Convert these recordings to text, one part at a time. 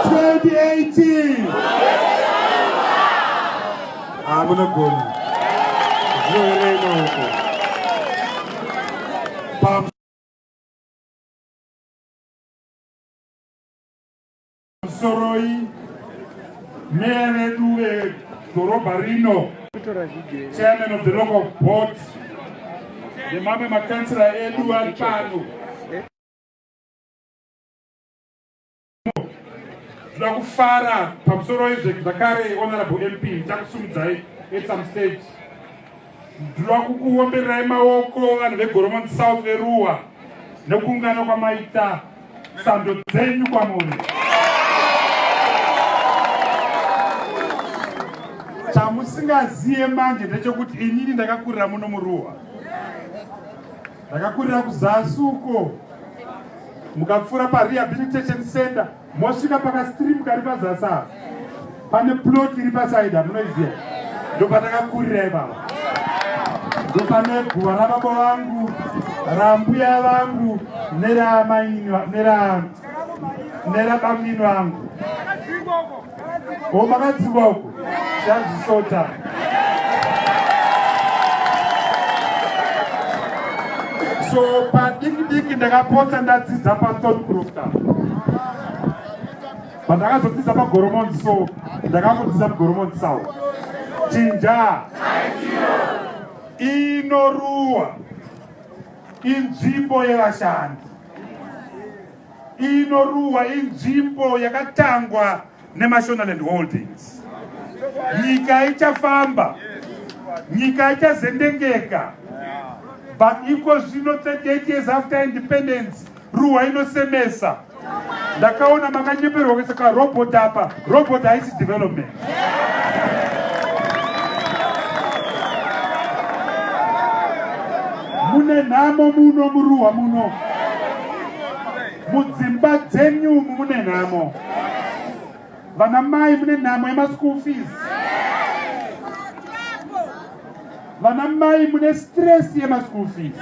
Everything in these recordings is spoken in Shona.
2018 hamuna goni zvinoerema uko pamusoroi meya vedu vedhorobha rino chairman of the local board nemamwe makansira edu ari pano Tinoda kufara pamusoro izve zvakare honorable MP takusumidzai at some stage. Ndinoda kukuombererai maoko vanhu veGoromonzi South veruwa nekuungana kwamaita sando dzenyu kwamuri. Chamusingaziye manje ndechekuti inini ndakakurira muno muruwa. Ndakakurira kuzasi uko mukapfuura parehabilitation center mosvika pakastream kari pazasi apa pane plot iri pasaidi hamunoiziva ndopatakakurira ipapa ndopane guva rababa vangu rambuya vangu neramainwa nera nerabamnini vangu Ko makadzingwa uko chazvisota. So padiki diki ndakapotsa ndadzidza paThorn Crofter. Pandakazodzidza paGoromonzi so ndakamudzidza muGoromonzi South. Chinja inoruwa inzvimbo yevashandi. Iyi Noruwa inzvimbo yakatangwa neMashonaland Holdings. Nyika ichafamba, nyika ichazendengeka. But iko zvino 38 years after independence, Ruwa inosemesa. Ndakaona makanyeperwa kuisa karobot apa, robot haisi development. mune nhamo muno muruwa muno mudzimba dzenyu mune nhamo vana mai mune nhamo yemaschool fees vana mai mune stress yemaschool fees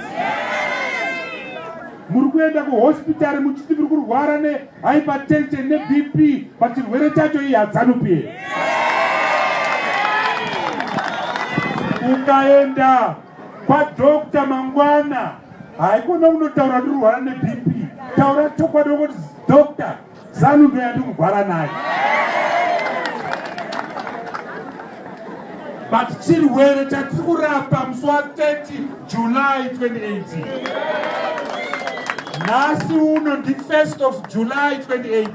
muri kuenda kuhospitari muchiti muri kurwara ne hypertension nebp but chirwere chacho iyi hadzanupi here ukaenda kwadokta mangwana haikona unotaura ndirwara nebp taura chokwadi wokuti dokta zanu ndoyandikugwara nayo but chirwere chatiri kurapa musi wa 30 july 2018 nhasi uno ndi 1st of july 2018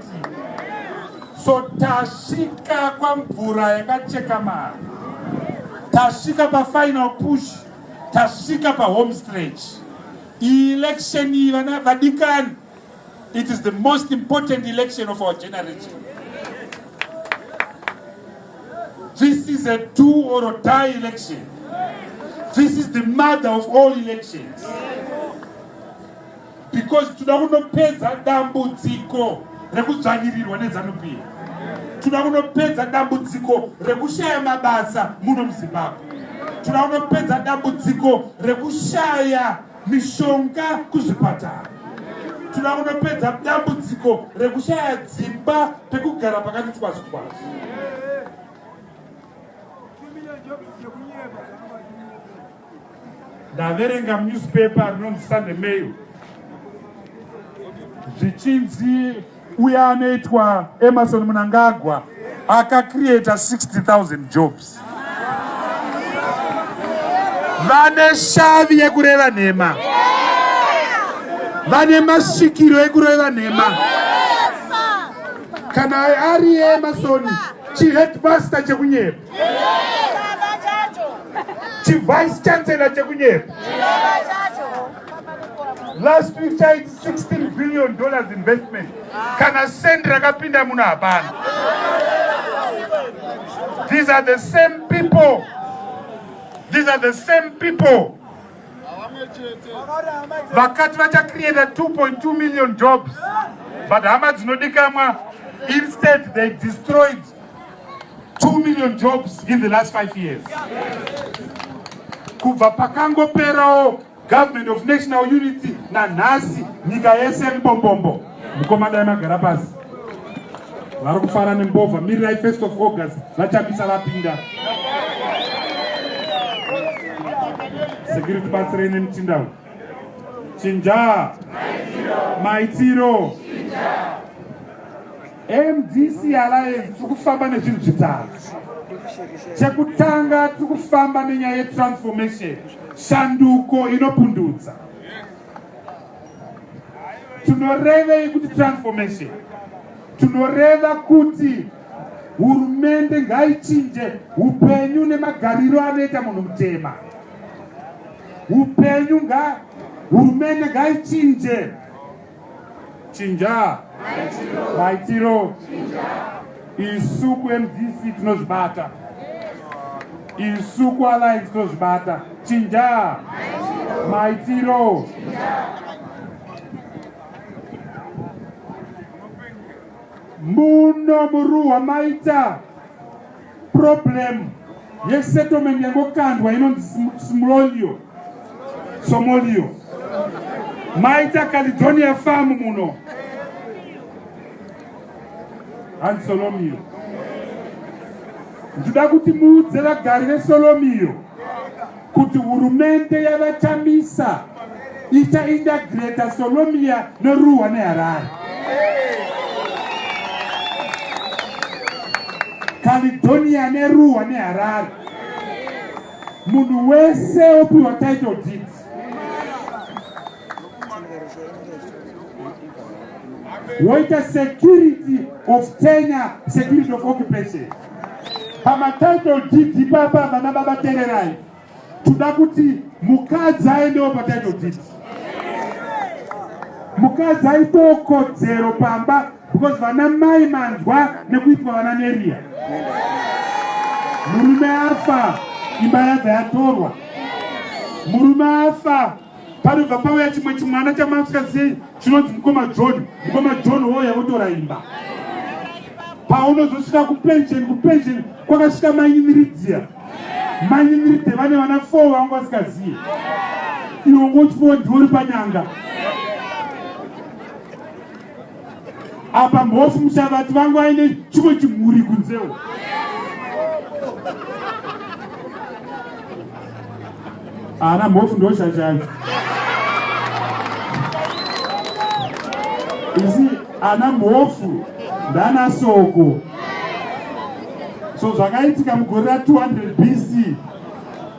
so tasvika kwamvura yakacheka mari tasvika pafinal push tasvika pahome stretch iyi election iyi vana vadikani It is the most important election of our generation. This is a do or die election. This is the mother of all elections. Because toda kunopedza dambudziko rekudzvanyirirwa neZanupia. Toda kunopedza dambudziko rekushaya mabasa muno muZimbabwe. Toda kunopedza dambudziko rekushaya mishonga kuzvipatara tinoda kunopedza dambudziko rekushaya dzimba pekugara pakati twazi twazi ndaverenga munewspaper rinonzi sunday mail zvichinzi uye anoitwa Emerson Mnangagwa akacreata 60,000 jobs vane shavi yekureva nhema vane masvikiro ekureva nhema kana ari emasoni chiheadmaster chekunyepa chivice chancellor chekunyepa last week chaiti 16 billion dollars investment kana sendi rakapinda muno hapana these are the same people these are the same people vakati vachacreata 2.2 million jobs but hama dzinodikamwa instead they destroyed 2 million jobs in the last 5 years kubva pakangoperawo government of national unity nanhasi nyika yese mbombombo mukoma dai magara pasi vari kufara nembovha mirirai first of august vachamisa vapinda security batsirei nemutindawo chinja maitiro Chinja. mdc alliance tiri kufamba nezvinhu zvitatu chekutanga tiri kufamba nenyaya yetransformation shanduko inopundudza tinorevei kuti transformation tinoreva kuti hurumende ngaichinje upenyu nemagariro anoita munhu mutema upenyu nga hurumende ngaichinje chinja maitiro isu kumdc tinozvibata isu kualliance tinozvibata chinja maitiro muno muruwa maita Problem yesettlement yangokandwa inonzi smolio somolio maita calidonia farm muno hanzi solomio ndida kuti muudze vagari vesolomio kuti hurumende yavaChamisa ichainda Greater Solomia neRuhwa neHarare. Caledonia neRuhwa neHarare. Munhu wese opiwa title deeds. woita security of tenure security of occupation pamatitle deed papa vana baba tererai toda kuti mukadzi aendewo patitle deed mukadzi aitewo kodzero pamba because vana mai manzwa nekuitwa vana neriya murume afa imba yadza yatorwa murume afa panobva pauya chimwe chimwana chamasikazii chinonzi mukoma john mukoma john woya votora imba paunozosvika kupensheni kupensheni kwakasvika manyiniridziya manyiniridziya vane vana four vanga vasikazii iwo ngochifowa ndiwo ri panyanga apa mhofu mushavati vangu aine chimwe chimhuri kunzewo ana mhofu ndoshashai isi ana mhofu ndana soko so zvakaitika mugore ra 200 bc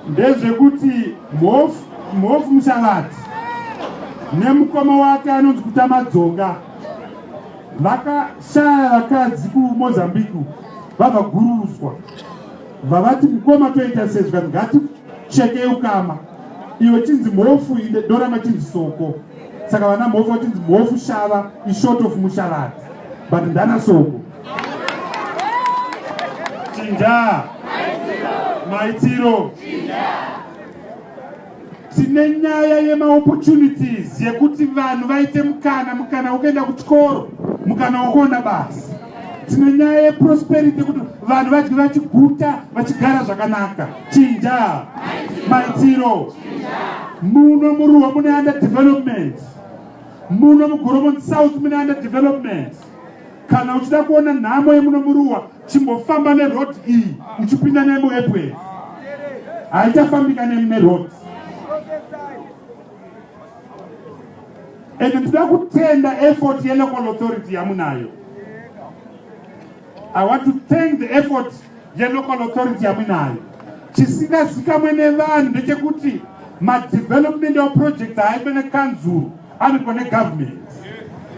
ndezvekuti mhofu Mhofu Mushavati nemukoma wake anonzi Kutamadzoka vakashaya vakadzi kuMozambique vabva gurudzwa vavati mukoma toita sezva ngatichekei ukama iwe chinzi mhofu inde dorama chinzi soko saka vana mhofu vachinzi mhofu shava ishort of mushavati but ndana soko tindaa maitiro tine nyaya yemaopportunities yekuti vanhu vaite mukana mukana wokuenda kuchikoro mukana wokuona basa tine nyaya yeprosperity yekuti vanhu vadye vachiguta vachigara zvakanaka chinja maitiro muno muruwa mune under development muno mugoromo south mune under development kana uchida kuona nhamo yemuno muruwa chimbofamba neroad iyi uchipinda nemuepway haichafambika nemi neroad and tinoda kutenda effort yelocal authority yamunayo i want to thank the effort yelocal authority yamunayo chisingazikamwe nevanhu ndechekuti madevelopment of projects haife nekanzuru anoitwa negovernment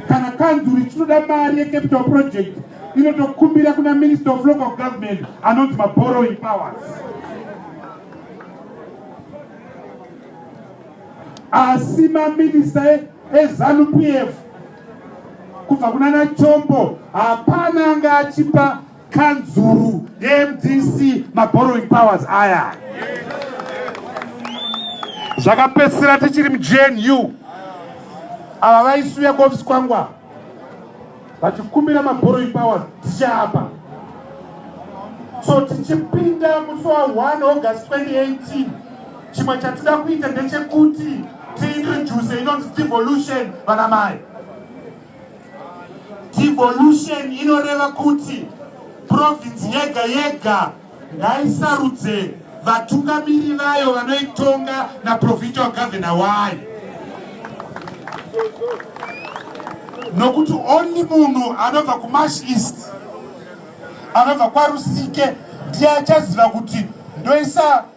kana kanzuri chinoda mari yecapital project inotokumbira kuna minister of local government anonzi maborrowing powers asi maminista ezanu p f kubva kunana chombo hapana anga achipa kanzuru yemdc maborrowing powers aya zvakapedzisira tichiri mujnu ava vaisuya kuofisi kwangu ava vachikumbira maborrowing powers tichaapa so tichipinda musi wa 1 august 2018 chimwe chatida kuita ndechekuti tiintroduce inonzi devolution vanamai Devolution inoreva kuti province yega yega ngaisarudze vatungamiri vayo vanoitonga naprovincial governor wayo nokuti only munhu anobva kumash east anobva kwarusike ndiye achaziva kuti ndoisa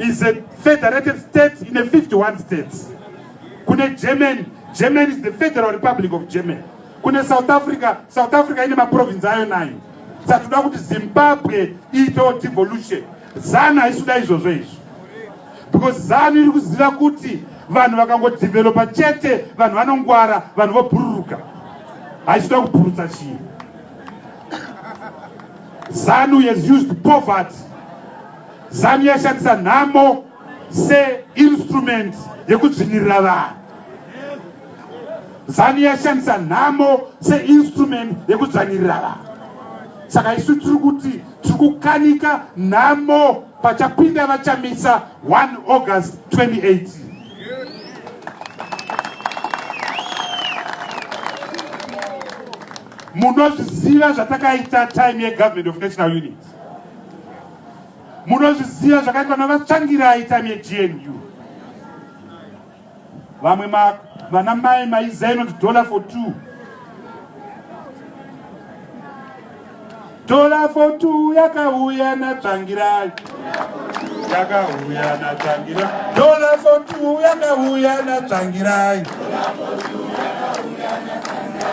is a federated state in a 51 states kune germany germany is the federal republic of germany kune south africa south africa ine maprovince ayo nayo saka tinoda kuti zimbabwe iitewo devolution zanu haisuda izvozvo izvo because zanu iri kuziva kuti vanhu vakangodevelopa chete vanhu vanongwara vanhu vobhururuka haisida kubhurutsa chii zanu has used poverty Zanu yashandisa nhamo seinstrument yekudzvinyirira vanhu. Zanu yashandisa nhamo seinstrument yekudzvanyirira vanhu. Saka isu tiri kuti tiri kukanika nhamo pachapinda vachamisa 1 August 2018. Munozviziva zvatakaita time yegovernment of national unity. munozviziva zvakaitwa navatsvangirai time yegnu vamwe vana mai maiza inonzi dollar for two dollar for two yakauya natsvangirai yakauya natsvangirai dollar for two yakauya natsvangirai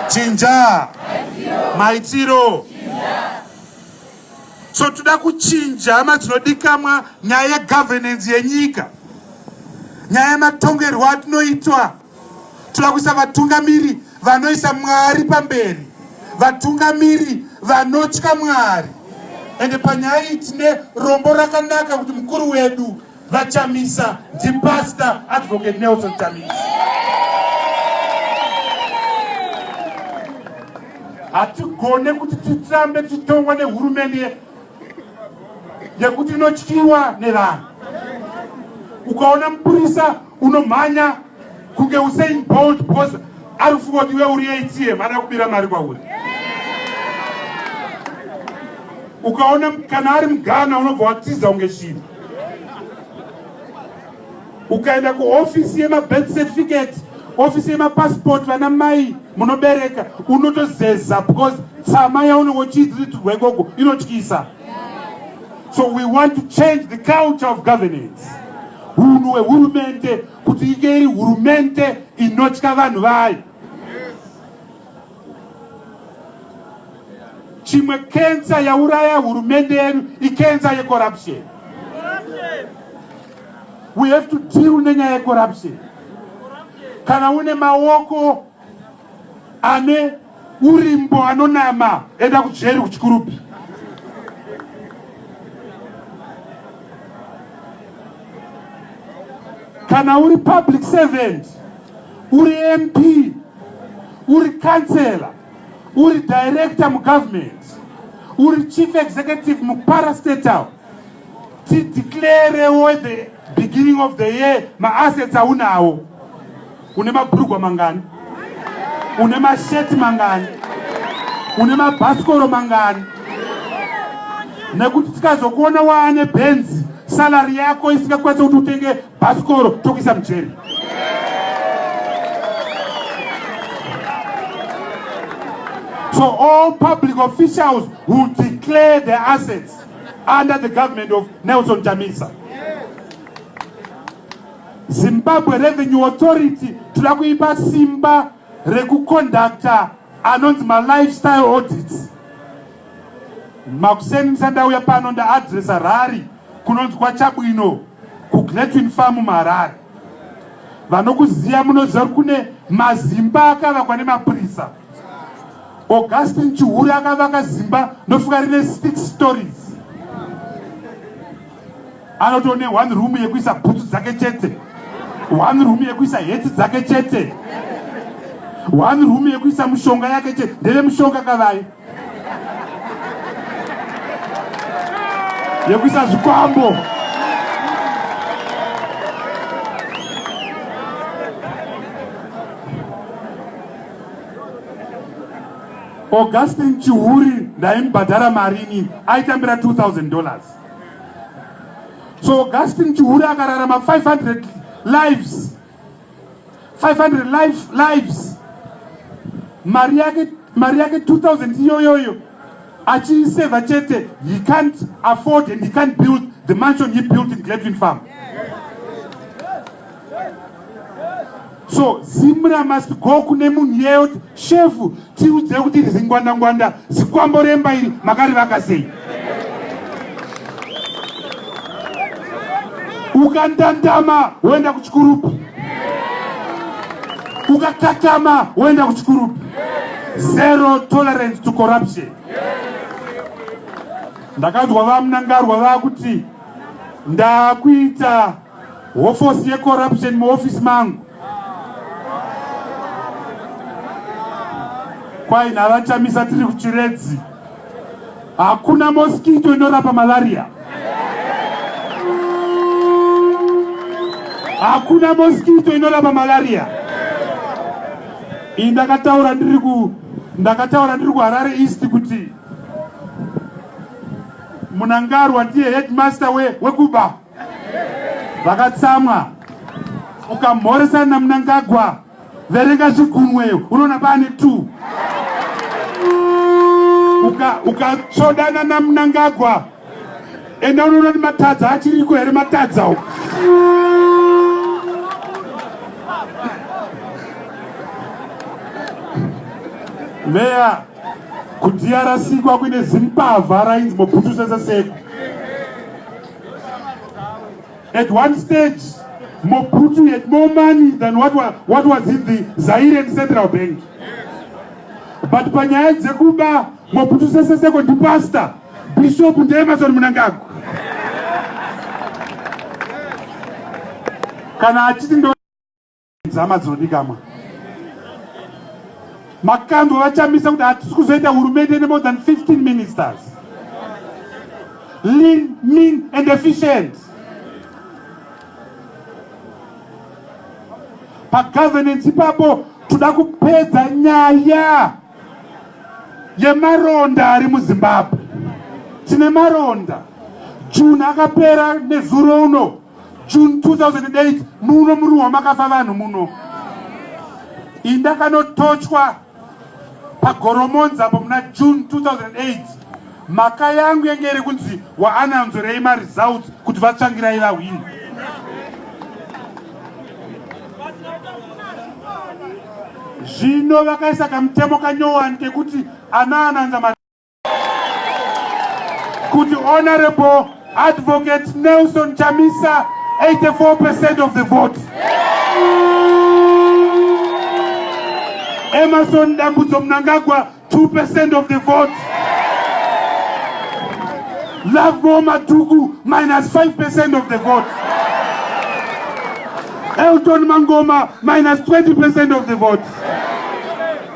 chinja maitiro so toda kuchinja hama dzinodikamwa nyaya yegovernance yenyika nyaya yematongerwo atinoitwa toda kuisa vatungamiri vanoisa mwari pamberi vatungamiri vanotya mwari ende panyaya iyi tine rombo rakanaka kuti mukuru wedu VaChamisa ndiPastor Advocate Nelson Chamisa. Hatigone kuti titsambe titongwa nehurumende yekuti inotyiwa nevanhu. Ukaona mupurisa unomhanya kunge Usain Bolt because ari kufunga kuti iwe uri ATM ada kubira mari kwauri. Ukaona kana ari mugana unobva watiza kunge shiri. ukaenda kuofisi yemabirth certificate ofisi yemapassport vana mai munobereka unotozeza because tsama yaunenge uchiitirwa ikoko inotyisa so we want to change the culture of governance hunhu hwehurumende kuti inge iri hurumende inotya vanhu vayo chimwe kensa yauraya hurumende yedu ikensa yecorruption we have to deal nenyaya yecorruption kana une maoko ane urimbo anonama enda kujeri kuchikurupi kana uri public servant uri mp uri councellor uri director mugovernment uri chief executive muparastatal tideclarewo the beginning of the year maassets aunawo une mabrugwa mangani une masheti mangani une mabhasikoro mangani nekuti tikazokuona waane benzi salary yako isingakwanisa kuti utenge Bhasikoro tokuisa mujeri. So all public officials who declare their assets under the government of Nelson Chamisa. Zimbabwe Revenue Authority toda kuipa simba rekuconducta anonzi malifestyle audits. Makuseni ndisandauya pano ndaadressa rari kunonzwa chabwino kugletin farm muharare vanokuziva munoziva kuti kune mazimba akavakwa nemapurisa augustin chihuri akavaka zimba ndofunga rine six stories anotoo ne one room yekuisa bhutsu dzake chete one room yekuisa heti dzake chete one room yekuisa mushonga yake chete ndeve mushonga kavai yekuisa zvikwambo augustin chihuri ndaimubhadhara marini aitambira 2000 dollars so augustin chihuri akararama 500 lives 500 lives, lives. mari yake mari yake 2000 iyoyoyo achiiseva chete he can't afford and he can't build the mansion he built in gladwin farm so zimra must go kune munhu yeyo Shefu tiudzei kuti iri zingwanda ngwanda zikwambo remba iri makarivaka sei? Ukandandama woenda kuchikurupu, ukakatama woenda kuchikurupu. Zero tolerance to corruption. Ndakanzwa vamunangarwa vakuti ndakuita Hofosi yecorruption muoffice mangu kwai navachamisa tiri kuchiredzi hakuna moskito inorapa malaria hakuna moskito inorapa malaria iyi ndakataura ndiri ku ndakataura ndiri kuharare east kuti munangarwa ndiye headmaster wekuba we vakatsamwa ukamhoresana namunangagwa verenga zvigunweyo unoona paane two ukatsvodana namunangagwa enda unoona kuti matadza achiriko here matadza uku meya kudiyarasikwa kuine zimbavha rainzi mobhutusesa seku At one stage, more Putu had more money than what was, what was in the Zaire Central Bank. But panyaya dzekuba Mobutu Sese Seko ndi pastor Bishop ndi Emerson Mnangagwa. Kana achiti Dzama dzinodikamwa. Makandwa vachamisa kuti hatisi kuzoita hurumende ne more than 15 ministers. Lean, mean and efficient. Pa governance ipapo toda kupedza nyaya yemaronda ari muzimbabwe tine maronda june akapera nezuro uno June 2008 muno muruwa makafa vanhu muno indakanotochwa pagoromonza apo muna june 2008 mhaka yangu yange iri kunzi waananzorei maresults kuti vatsvangirai vahwini zvino vakaisa kamutemo kanyowani kekuti anaananza kuti honorable advocate nelson chamisa 84 percent of the vote emerson dambudzo mnangagwa 2 percent of the vote love more matuku minus 5 percent of the vote elton mangoma minus 20 percent of the vote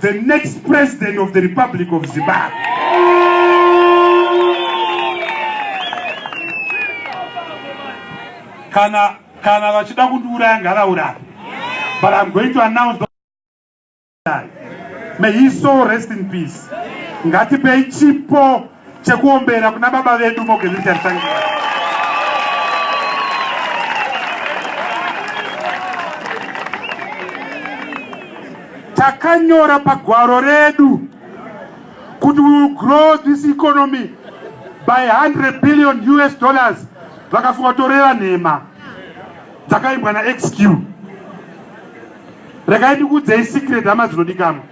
the next president of the republic of zimbabwe kana kana vachida kundiuraya ngavauraye but i'm going to announce the may his soul rest in peace ngatipei chipo chekuombera kuna baba vedu Mogezita Rutangira. Takanyora pagwaro redu kuti we will grow this economy by 100 billion US dollars vakafunga toreva nhema dzakaimbwa naxq rekai ndikuudzei secret hama dzinodikamwa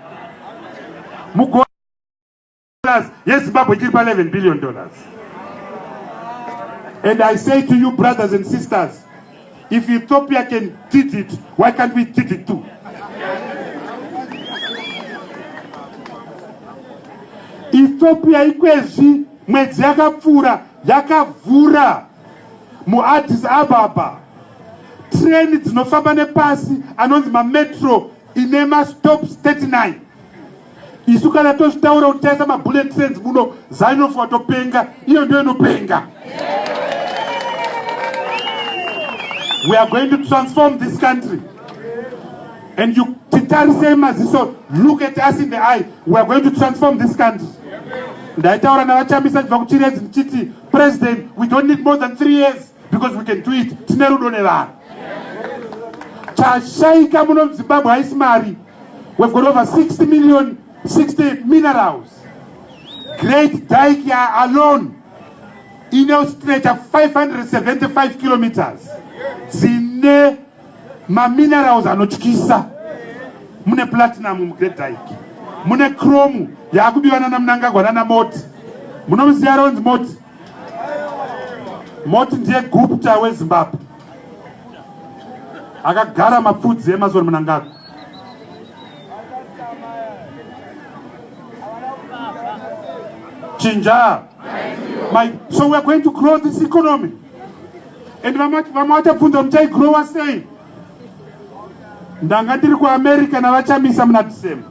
dollars yezimbabwe chiri pa11 billion dollars and i say to you brothers and sisters if ethiopia can did it why can't we did it too ethiopia ikwezvi mwedzi yakapfuura yakavhura muaddis ababa treni dzinofamba nepasi anonzi mametro ine mastops 39 isu kana tozvitaura kuti taisa mabullet trains muno zanof watopenga iyo ndo inopenga we are going to transform this country and you titarisei maziso look at us in the eye we are going to transform this country ndaitaura navachamisa ndibva kuchiredzi ndichiti president we don't need more than three years because we can do it tine rudo nevanhu chashaika muno muzimbabwe haisi mari we've got over 60 million 60 minerals great dike ya alone inostretcha 575 kilometers dzine maminerals anotyisa mune platinum mugreat dike mune chrome yaakubiwa nana munangagwa nana moti munomuziya ronzi moti moti ndiye gupta wezimbabwe akagara mapfudzi emazoni munangagwa chinja my so weare going to grow this economy and vamwe vachabvunza kuti taigrowa sei ndanga ndiri kuamerica navachamisa muna december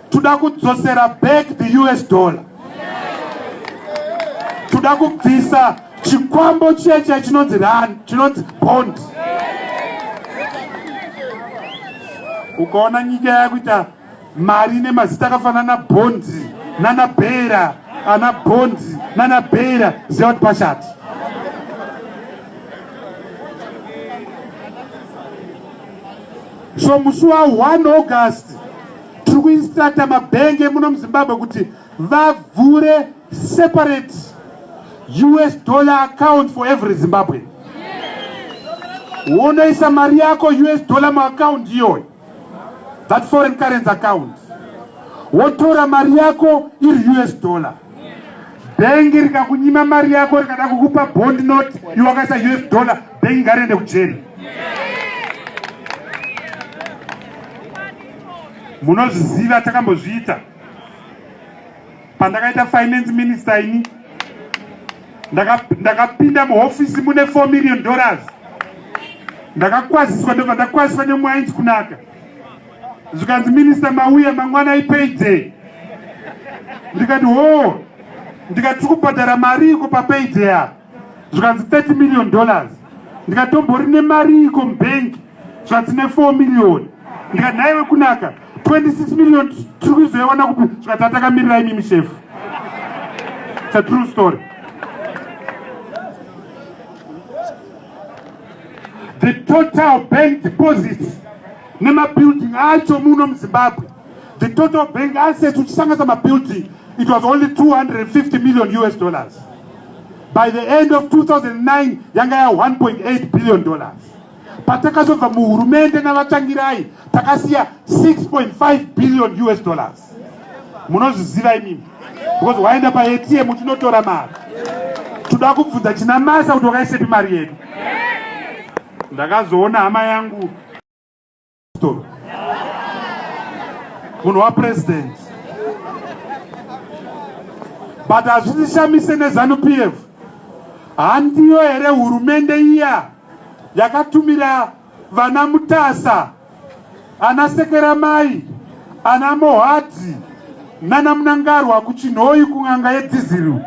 Tuda kudzosera back the US dollar. Tuda kubvisa chikwambo chiya chiya chinonzi rand, chinonzi bond. Ukaona nyika yakuita mari nemazita akafanana bond nana bera ana bond nana bera ziva kuti pashati. So musi wa 1 August tiri kuinstrata mabhengi emuno muzimbabwe kuti vavhure separate us dollar account for every zimbabwe wonoisa mari yako us dollar muaccount iyoyo that foreign currency account wotora mari yako iri us dollar bhengi rikakunyima mari yako rikada kukupa bond not iwakaisa us dollar Bhengi ngariende kujeri. Munozviziva takambozviita. Pandakaita finance minister ini ndakapinda muhofisi mune 4 million dollars ndakakwaziswa ndobva ndakwaziswa nemwainzi kunaka zvikanzi minista mauya mangwana ipayday ndikati hoo ndikati tikubhadhara mari iko papayday apa zvikanzi 30 million dollars ndikatombori nemari iko mubhengi zvatine 4 million ndikati nhaiwe kunaka 26 million tiri kuzoiwana kupi zvikati atakamirira imimi shefu its a true story the total bank deposits nemabuilding acho muno muzimbabwe the total bank assets uchisanganisa mabuilding it was only 250 million us dollars by the end of 2009 yanga ya 1.8 billion dollars patakazobva muhurumende navatangirai takasiya 6.5 billion us dollars munozviziva imimi because waenda paatm tinotora mari toda kubvunza china masa kuti wakaisepi mari yedu ndakazoona hama yangu Stop. Munhu wa president. But hazvishamise ne Zanu PF. Handiyo here hurumende iya yakatumira vana Mutasa, ana Sekeramai, ana Mohadzi nana Munangarwa kuChinhoyi kun'anga yeDhiziru.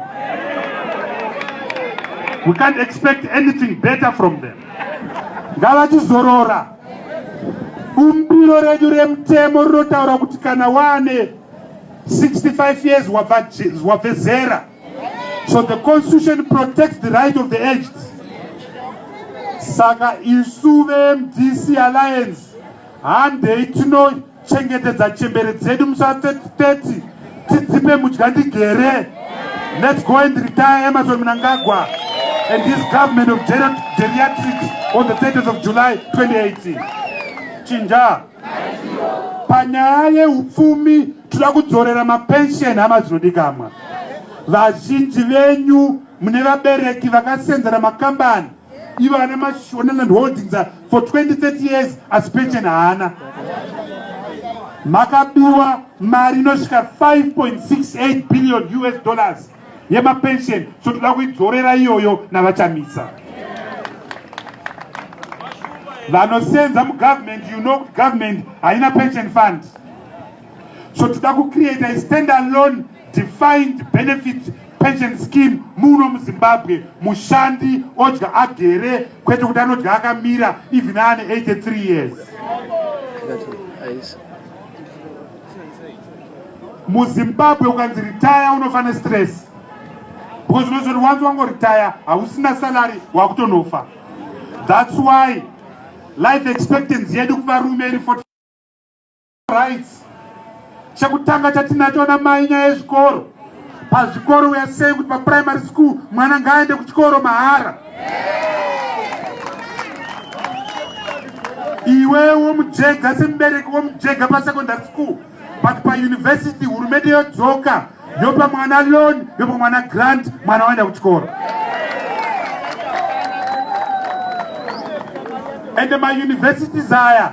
We can't expect anything better from them. Ngavachizorora. Bumbiro redu remutemo rinotaura kuti kana wane 65 years wabve zera. So the constitution protects the right of the aged. Saka isu veMDC Alliance handei tino chengetedza chembere dzedu musa 30 tidzipe mudya ndigere let's go and retire emerson mnangagwa and his government of geriatrics on the 30th of july 2018 chinja panyaya yeupfumi tinoda kudzorera mapension hama dzinodikamwa vazhinji venyu mune vabereki vakasenzera makambani ivo ana mashonaland holdings for 2030 years asi pension haana makabiwa mari inosvika 5.68 billion us dollars yemapension so toda kuidzorera iyoyo navachamisa vanosenza mugovernment you know kuti government haina pension fund so toda kucreata standalone defined benefits pension scheme muno muzimbabwe mushandi odya agere kwete kuti anodya akamira even aane 83 years muzimbabwe ukanzi ritaya unofane stress because unozoti wanzi wangoritaya hausina salary wakutonofa thats why life expectancy yedu kuvarume iri rights chekutanga chatinacho na mai nyaya yezvikoro pazvikoro we are saying kuti pa primary school mwana ngaaende kuchikoro mahara iwe womujega semubereki womujega pa secondary school but pa university hurumende yodzoka yopa mwana loan yopa mwana grant mwana waenda kuchikoro and my universities aya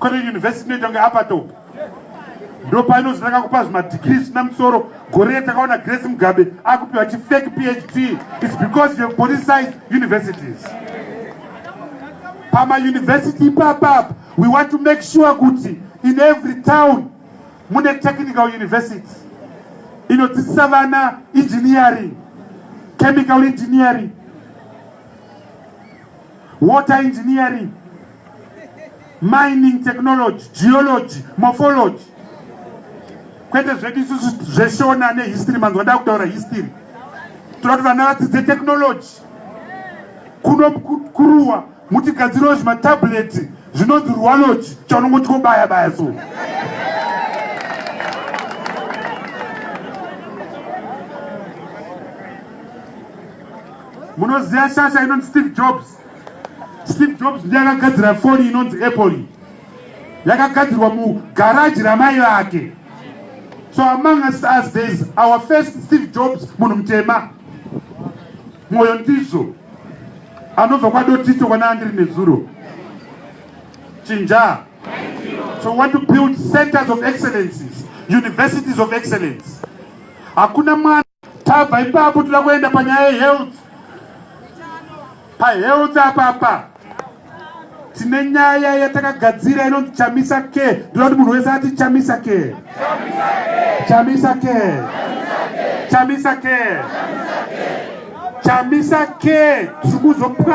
Kune university inoita kunge upper top. Ndipo painozotanga kupa zvimadegree zvisina musoro. Gore takaona Grace Mugabe akupiwa chi fake PhD. It's because you have politicized universities. Pama university ipapapa we want to make sure kuti in every town mune technical university inodzidzisa vana engineering chemical engineering water engineering, mining technology, geology, morphology. Kwete zvedu isusu zveshona nehistory manzwa ndakutaura history. Toda kuti vana vadzidze technology. Kuno kuruwa mutigadzirawo zvimatableti zvinonzi ruwalogy chaunongoti kobaya baya so. munoziva shasha inonzi steve jobs steve jobs ndiye akagadzira foni inonzi apple yakagadzirwa mugaraji ramai vake so among us as thereis our first steve jobs munhu mutema mwoyo ndizvo anobva kwadotito kwana andiri nezuro chinja so want to build centers of excellences universities of excellence hakuna mwana Tabva ipapo toda kuenda panyaya yehealth. Pahealth apapa tine nyaya yatakagadzira inonzi chamisa ke ndoda kuti munhu wese ati chamisa ke chamisa ke chamisa ke chamisa ke tiri kuzopwa